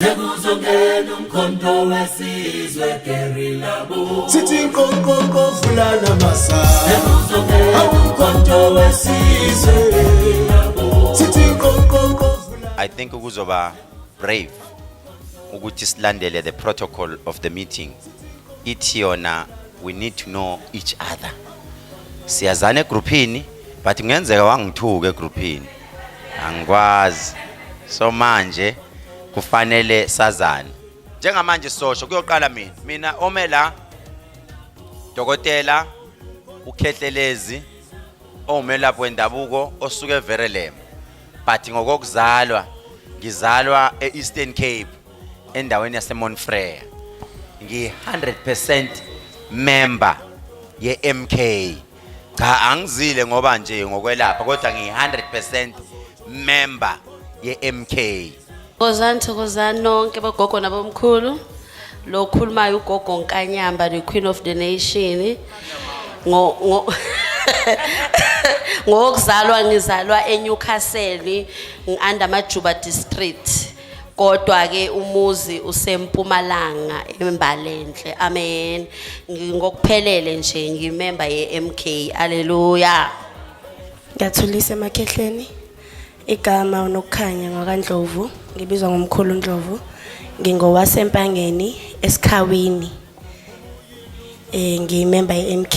Sekuzongena umkhonto wesizwe gerilla bo Sithi nkonkonko fulana masa Sekuzongena umkhonto wesizwe gerilla bo Sithi nkonkonko I think ukuzoba brave ukuthi silandele the protocol of the meeting ithi yona we need to know each other siyazana egruphini but kungenzeka wangithuka egruphini angikwazi so manje kufanele sazane njengamanje sosho kuyoqala mina mina ome la dokotela ukhehlelezi owumelaphi wendabuko osuke everelem but ngokokuzalwa ngizalwa e-eastern cape endaweni yasemonfreya ngi-100 percent member ye-mk cha angizile ngoba nje ngokwelapha kodwa ngiyi 100% member ye MK Thokozani thokozani nonke bogogo nabomkhulu lo okhulumayo ugogo Nkanyamba the queen of the nation ngo ngo ngokuzalwa ngizalwa eNewcastle ngianda majuba district kodwa ke umuzi usempumalanga embalenhle amen ngingokuphelele nje ngimemba yeMK haleluya ngiyathulisa emakhehleni igama unokukhanya ngakandlovu ngibizwa ngomkhulu ndlovu ngingowasempangeni esikhawini eh ngiyimemba yeMK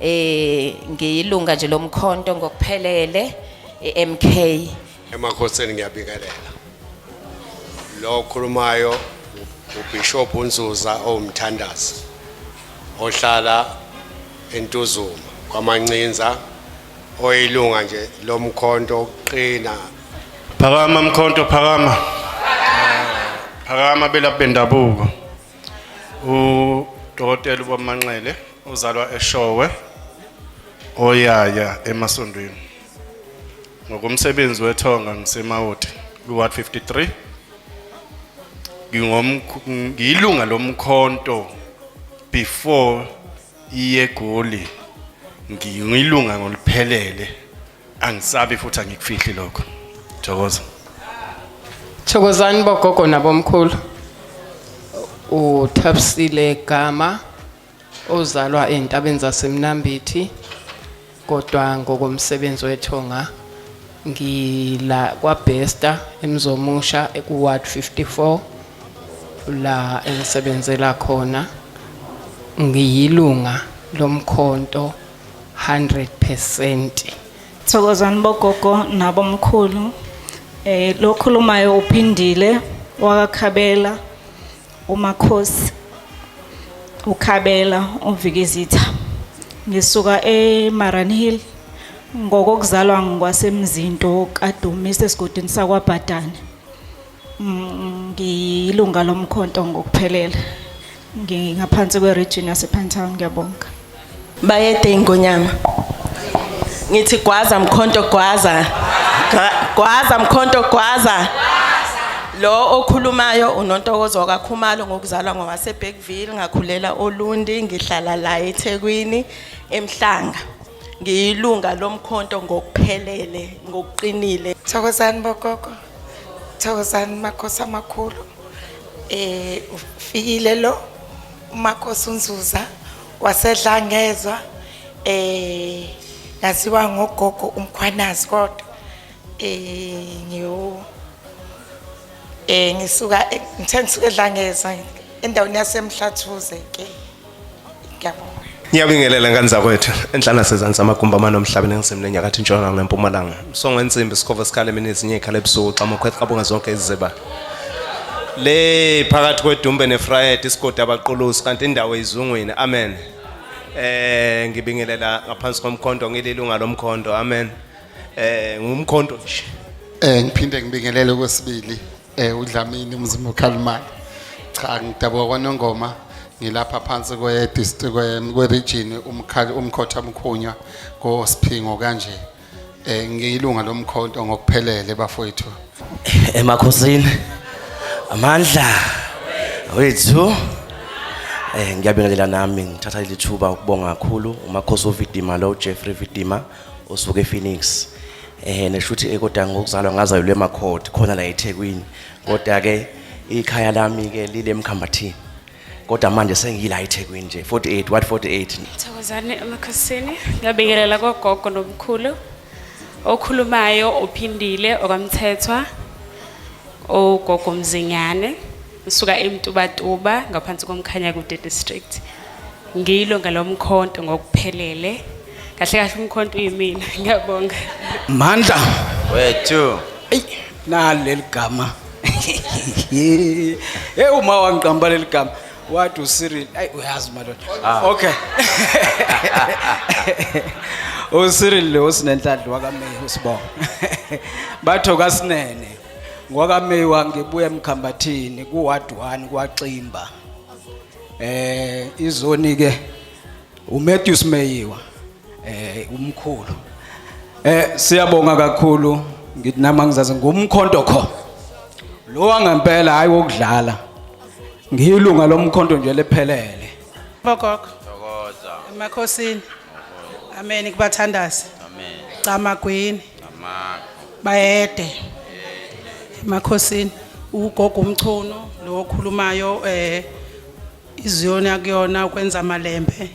eh ngiyilunga nje lomkhonto ngokuphelele eMK emakhosini ngiyabingelela lo okhulumayo uBishop uNzuza owumthandazi ohlala eNtuzuma kwamancinza oyilunga nje lomkhonto oqina phakama mkhonto phakama phakama belaphi bendabuko udokotela ubamanxele uzalwa eshowe oyaya emasondweni ngokomsebenzi wethonga ngisemawoti kwi-ward 53 ngiyilunga lomkhonto before iyegoli ngiyilunga ngoliphelele angisabi futhi angikufihli lokho thokoza thokozani bogogo nabomkhulu uthabisile gama ozalwa entabeni zasemnambithi kodwa ngokomsebenzi wethonga ngila kwabhesta emzomusha ekuward 54 la engisebenzela khona ngiyilunga lomkhonto 100%. Thokozani bogogo nabo mkhulu. Eh lokhulumayo uphindile wakakhabela umakhosi ukhabela uvikizitha. Ngisuka eMaran Hill ngokokuzalwa ngikwasemzinto kaDumisa esigodini sakwaBhadane. ngiyilunga lomkhonto ngokuphelele ngingaphansi kweregion yasepinetown ngiyabonga bayede ingonyama ngithi gwaza mkhonto gwaza gwaza mkhonto gwaza lo okhulumayo unontokozo wakakhumalo ngokuzalwa ngowasebergville ngakhulela olundi ngihlala la ethekwini emhlanga ngiyilunga lomkhonto ngokuphelele ngokuqinile thokozani bogogo Thokozani makhosi amakhulu eh ufikile lo umakhosi unzuza wasedla ngezwa eh ngaziwa ngogogo umkhwanazi kodwa eh ngiyo eh ngisuka ngithe ngisuke edla ngezwa endaweni yasemhlathuze ke Ngiyabonga. Ngiyabingelela ngane zakwethu enhlana sezansi amagumbi amane omhlabeni engisemle enyakatho intshonalanga nempumalanga songo ensimbi sikhova sikhala emini ezinye ikhala ebusuku xa mokhweth qabonga zonke iziziba le phakathi kwedumbe nefrayed isigodi abaqulusi kanti indawo izungwini amen eh ngibingelela ngaphansi komkhonto ngililunga lomkhonto amen eh ngumkhonto nje Eh ngiphinde ngibingelele kwesibili Eh uDlamini umzimba okhalimali. Cha ngidabuka kwaNongoma ngilapha phansi kwe district kwe region umkhali umkhotha mkhunywa ko Siphingo kanje. Eh ngiyilunga lomkhonto ngokuphelele bafowethu. Emakhosini. Amandla. Wethu. Eh ngiyabingelela nami ngithatha lithuba ukubonga kakhulu uMakhosi uVidima lo Jeffrey Vidima. osuke ePhoenix eh neshuthi ekodanga ngokuzalwa ngazalwa eMakhodi khona la eThekwini kodwa ke ikhaya lami ke lile emkhambathini kodwa manje sengiyila eThekwini nje 48 what 48 Thokozani emakhosini ngiyabingelela kogogo nomkhulu okhulumayo uphindile okamthethwa ogogo mzinyane Ngisuka eMtubatuba ngaphansi komkhanya kude district. Ngilo ngalomkhonto ngokuphelele. Kahle kahle umkhonto uyimina. Ngiyabonga. Mandla. Wethu. Ey, naleli gama. Hey uma wangiqamba leli gama. What u Cyril? Ay uyazi madoda. Ah. Okay. UCyril lo sinenhlanhla wakaMeyi usibonga. Bathoka sinene. ngwakameyiwa ngibuya emkhambathini kuward 1 kwaximba eh izoni ke uMatthews Meyiwa eh umkhulu eh siyabonga kakhulu ngithi nama ngizazi ngumkhonto kho lo wangempela hayi wokudlala ngiyilunga lomkhonto nje lephelele bokokho thokoza emakhosini amen kubathandazi amen camagwini bayede emakhosini ugogo umchunu lo okhulumayo eh iziyona kuyona ukwenza amalembe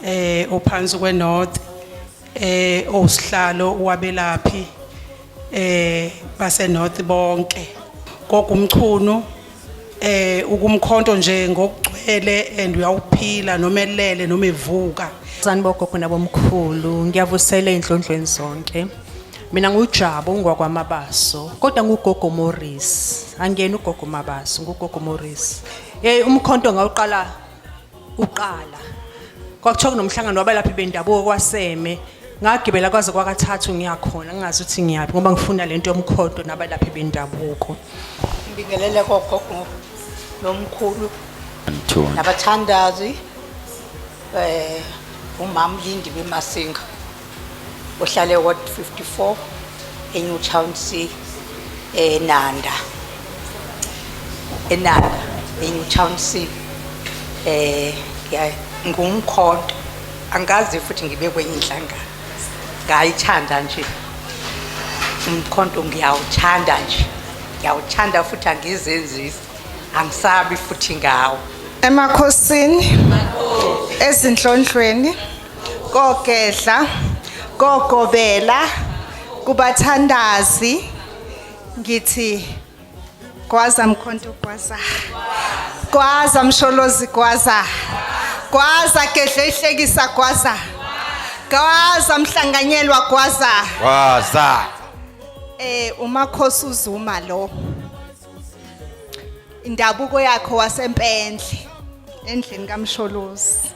eh ophansi kwenorth eh osihlalo wabelaphi eh base north bonke gogo umchunu eh ukumkhonto nje ngokugcwele and uyawuphila noma elele noma evuka sanibogogo nabomkhulu ngiyavusela enhlondlweni zonke mina ngujabo ungwakwamabaso kodwa ngugogo Morris angiyena ugogo Mabaso ngugogo Morris eh umkhonto ngawuqala kuqala kwakuthiwa kunomhlangano wabalaphi bendabuko kwaseme ngagibela kwaze kwakathathu ngiyakhona ngingazi ukuthi ngiyaphi ngoba ngifuna le nto yomkhondo nabalaphi bendabuko ngibingelele kogogo nomkhulu nabathandazi um umama ulindi bemasinga ohlale ward 54 eNew Town C eNanda eNanda eNew Town C eh ngumkhonto angazi futhi ngibe kwenye inhlangano ngayithanda nje umkhonto ngiyawuthanda nje ngiyawuthanda futhi angizenzisi angisabi futhi ngawo emakhosini ezinhlonhlweni kogedla kogobela kubathandazi ngithi gwaza mkhonto gwaza gwaza msholozi gwaza gwaza gedla ihlekisa gwaza gwaza mhlanganyelwa gwaza gwaza eh umakhosi uzuma lo indabuko yakho wasempendle endlini kamsholozi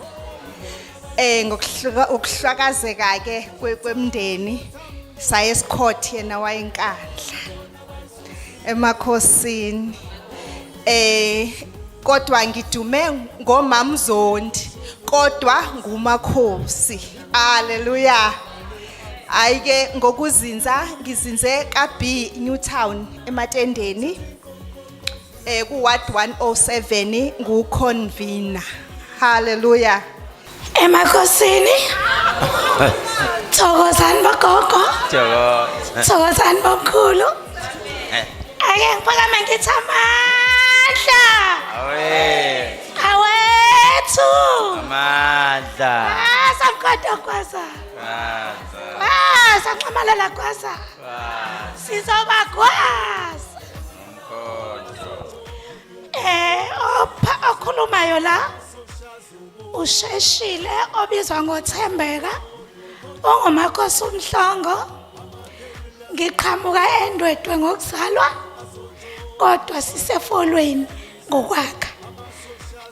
eh ngokuhlakazeka ke kwemndeni saye esikhothi yena wayenkandla emakhosini eh kodwa ngidume ngomamzondi kodwa ngumakhosi haleluya hayi ke ngokuzinza ngizinze ka-b newtown ematendeni um ku-ward 107 nguconvina halleluya emakosini thokozani bogogo thokozani bomkhulu ake ngiphakame ngithi amandla awethu amandla asamkhoda kwaza Gwaza nxamalala gwaza. Sizoba gwaza. Eh opha okhulumayo la. Usheshile obizwa ngoThembeka. Ongumakhosi umhlongo. Ngiqhamuka endwedwe ngokuzalwa. Kodwa sisefolweni ngokwakha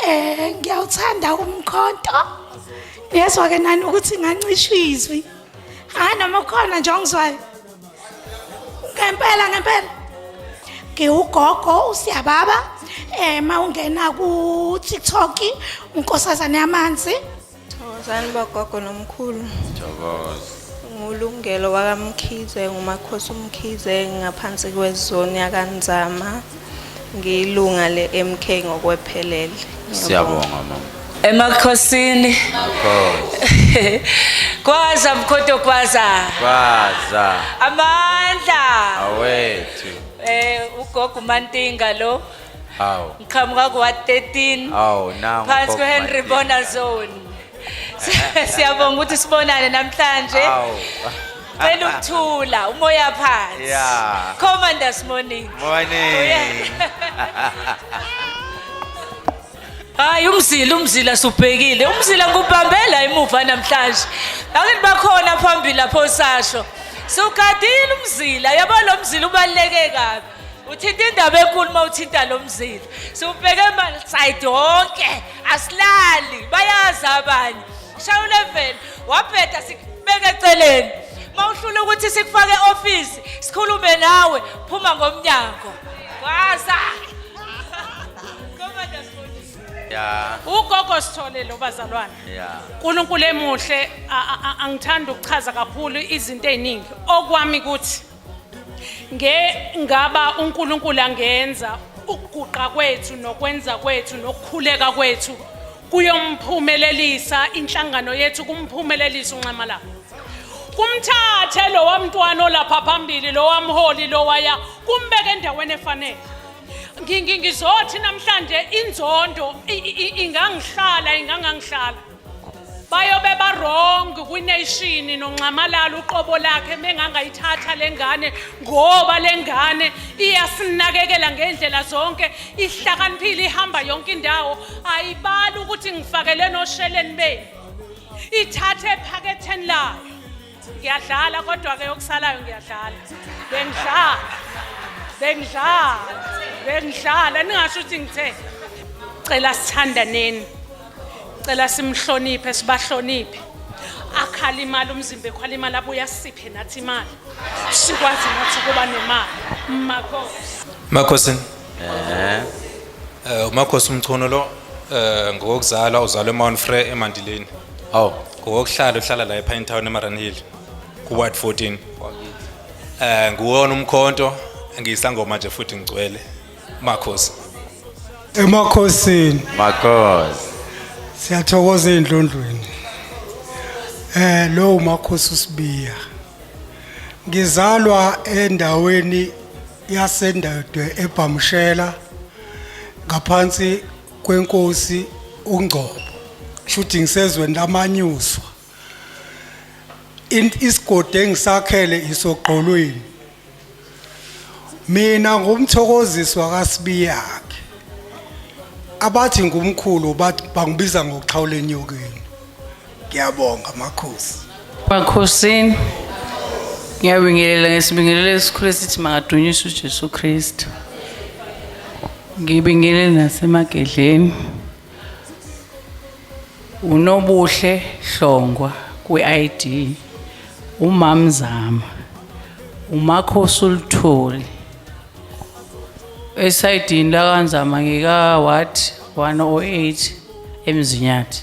eh ngiyawuthanda umkhonto niyezwa ke nani ukuthi ngancishwa izwi hayi noma khona nje ongizwayo ngempela ngempela ngiwugogo usiyababa eh mawungena ku TikTok unkosazane yamanzi Thokozani bogogo nomkhulu. Thokoza. Ngulungelo wakamkhize ngumakhosi umkhize ngaphansi kwezoni yakanzama ngiyilunga le-mk ngokwephelele siyabonga mama emakhosini kwaza mkhoto kwaza kwaza amandla awethu eh ugogo umantinga lo Awu. ngiqhamuka kuwa 13 Awu nangu. phansi Pop kwehenry Madinga. bona zone siyabonga ukuthi sibonane namhlanje Awu. cela ukuthula umoya phansi Yeah. commanders morning Morning. hayi umzila umzila subhekile umzila ngubambela emuva namhlanje angithi bakhona phambili lapho sasho siwugadile umzila yabo lo mzila ubaluleke kabi uthinta indaba enkulu uma uthinta lo mzila siwubheke emalside wonke asilali bayazi abanye shaya uleveni wabheda sikubeke eceleni uma uhlula ukuthi sikufake e-ofisi sikhulume nawe phuma ngomnyango waza Yeah. ugogo sithole lo bazalwane Yeah. unkulunkulu emuhle a- a- a- angithandi ukuchaza kakhulu izinto ey'ningi okwami kuthi nge ngaba uNkulunkulu angenza ukuguqa kwethu nokwenza kwethu nokukhuleka kwethu kuyomphumelelisa inhlangano yethu kumphumelelisa unxamala kumthathe lo wamntwana olapha phambili lo wamholi lo waya kumbeke endaweni efanele ngizothi namhlanje inzondo ingangihlala ingangangihlala bayobe barong kwination nonxamalala uqobo lakhe mengangayithatha le ngane ngoba le ngane iyasinakekela ngendlela zonke ihlakaniphile ihamba yonke indawo ayibali ukuthi ngifakele nosheleni benu ithathe ephaketheni layo ngiyadlala kodwa ke okusalayo ngiyadlala bengidlala bengidlala bengidlala ningasho ukuthi ngithe cela sithandaneni cela simhloniphe sibahloniphe akhala imali umzimba ekhwala imali abuye asiphe nathi imali sikwazi nathi ukuba nemali makhosi makhosi eh umakhosi umchono lo eh ngokuzala uzalwe eMount Frere eMandileni awu ngokokuhlala uhlala la epine town emaran hill kuward 14 um nguwona umkhonto ngiyisangoma nje futhi ngigcwele makhosi emakhosini makhosi siyathokoza endlondlweni eh lo umakhosi usibiya ngizalwa endaweni yasendadwe ebhamshela ngaphansi kwenkosi uNgcobo shuthi ngisezweni lamanyuswa isigodi engisakhele isogqolweni mina ngumthokoziswa kasibiyakhe abathi ngumkhulu bathi bangibiza ngokuxhawula enyokeni Ngiyabonga makhosi. Makhosini. Ngiyabingelela ngesibingelelo esikhulu esithi makadunyiswe uJesu Kristu. Ngibingelele nasemagedleni. Unobuhle Hlongwa kwi-ID. Umamzama. Umakhosi ulitholi. Esayidini lakanzama ngika what 108 emzinyathi.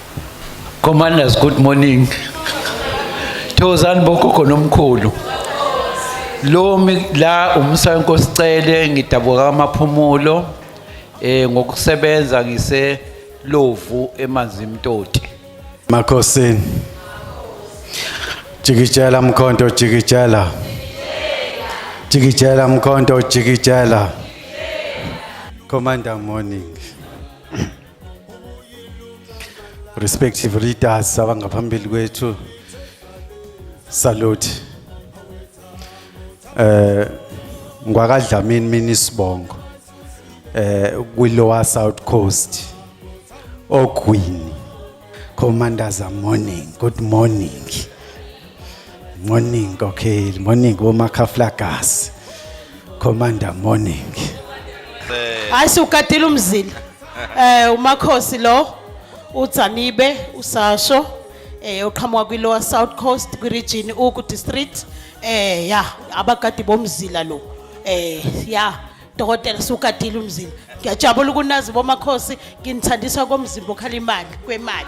Commanders good morning. Thozani bogogo nomkhulu. Lo la umsa wenkosi cele ngidabuka amaphumulo eh ngokusebenza ngise lovu emanzi imtoti. Makhosi. Jikijela mkhonto jikijela. Jikijela mkhonto jikijela. Commander morning. respective leaders abangaphambili kwethu salute eh ngwakadlamini mina isibongo eh kwi lower south coast ogwini Commanders morning good morning morning kokheli morning womakhaflagasi commander morning hayi siwugadile umzila eh umakhosi lo udzanibe usasho eh oqhamuka kwi lower south coast kwi region uku district eh ya abagadi bomzila lo eh ya dokotela sugadile umzimba ngiyajabula ukunazi bomakhosi nginithandiswa komzimba okhala imali kwemali